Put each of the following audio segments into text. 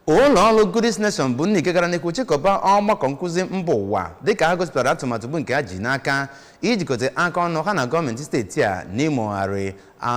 ụlọ ọrụ Goodies Nation bụ ndị nke gara n'ihu chịkọba ọgbakọ nkụzi mba ụwa dịka ha gosipụtara atụmatụ bụ nke ha ji n'aka ijikọta aka ọnụ ha na gọọmenti steeti a n'imegharị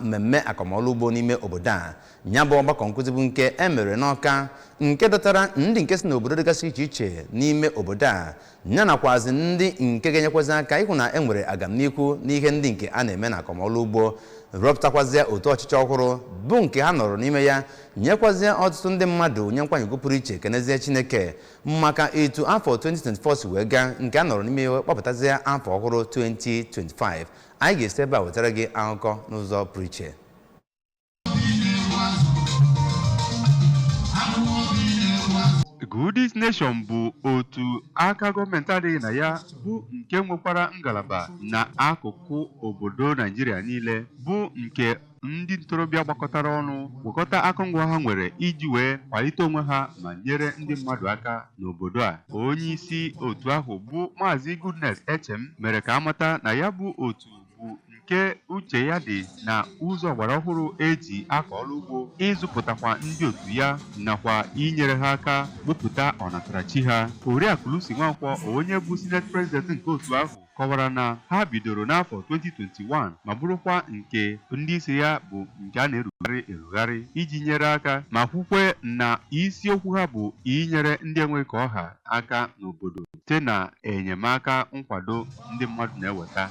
mmemme akọmọlụ ugbo n'ime obodo a ya bụ ọgbakọ nkụzi bụ nke e mere n'Ọka nke dọtara ndị nke si n'obodo dịgasị iche iche n'ime obodo a ya nakwazi ndị nke ga-enyekwazị aka ịhụ na e nwere agamnihu n'ihe ndị nke a na-eme na akọmọlụ ugbo rọpụtakwazịa otu ọchịchị ọhụrụ bụ nke ha nọrọ n'ime ya nyekwazịa ọtụtụ ndị mmadụ nye nkwanye ugwu pụrụ iche kenezie Chineke maka etu afọ 2024 si wee gaa nke ha nọrọ n'ime ya wee kpọpụtazịa afọ ọhụrụ 2025 anyị ga-esi ebe a wetara gị akụkọ n'ụzọ pụrụ iche Goodies Nation bụ otu aka gọọmenti adịghị na ya bụ nke nwekwara ngalaba na akụkụ obodo Naijiria niile bụ nke ndị ntorobịa gbakọtara ọnụ gwakọta akụngwa ha nwere iji wee kwalite onwe ha ma nyere ndị mmadụ aka n'obodo a onye isi otu ahụ bụ Maazị Goodness Echem mere ka a mata na ya bụ otu bụ nke uche ya dị na ụzọ ọgbara ọhụrụ e ji akọ ọlụ ugbo ịzụpụtakwa ndị otu ya nakwa inyere ha aka wepụta ọnatarachi ha oriakụ Lucy Nwankwọ onye bụ Senate President nke otu ahụ kọwara na ha bidoro n'afọ 2021 ma bụrụkwa nke ndị isi ya bụ nke a na-erugharị erugharị iji nyere aka ma kwukwe na isiokwu ha bụ inyere ndị enweghị ka ọ ha aka n'obodo site na enyemaka nkwado ndị mmadụ na-eweta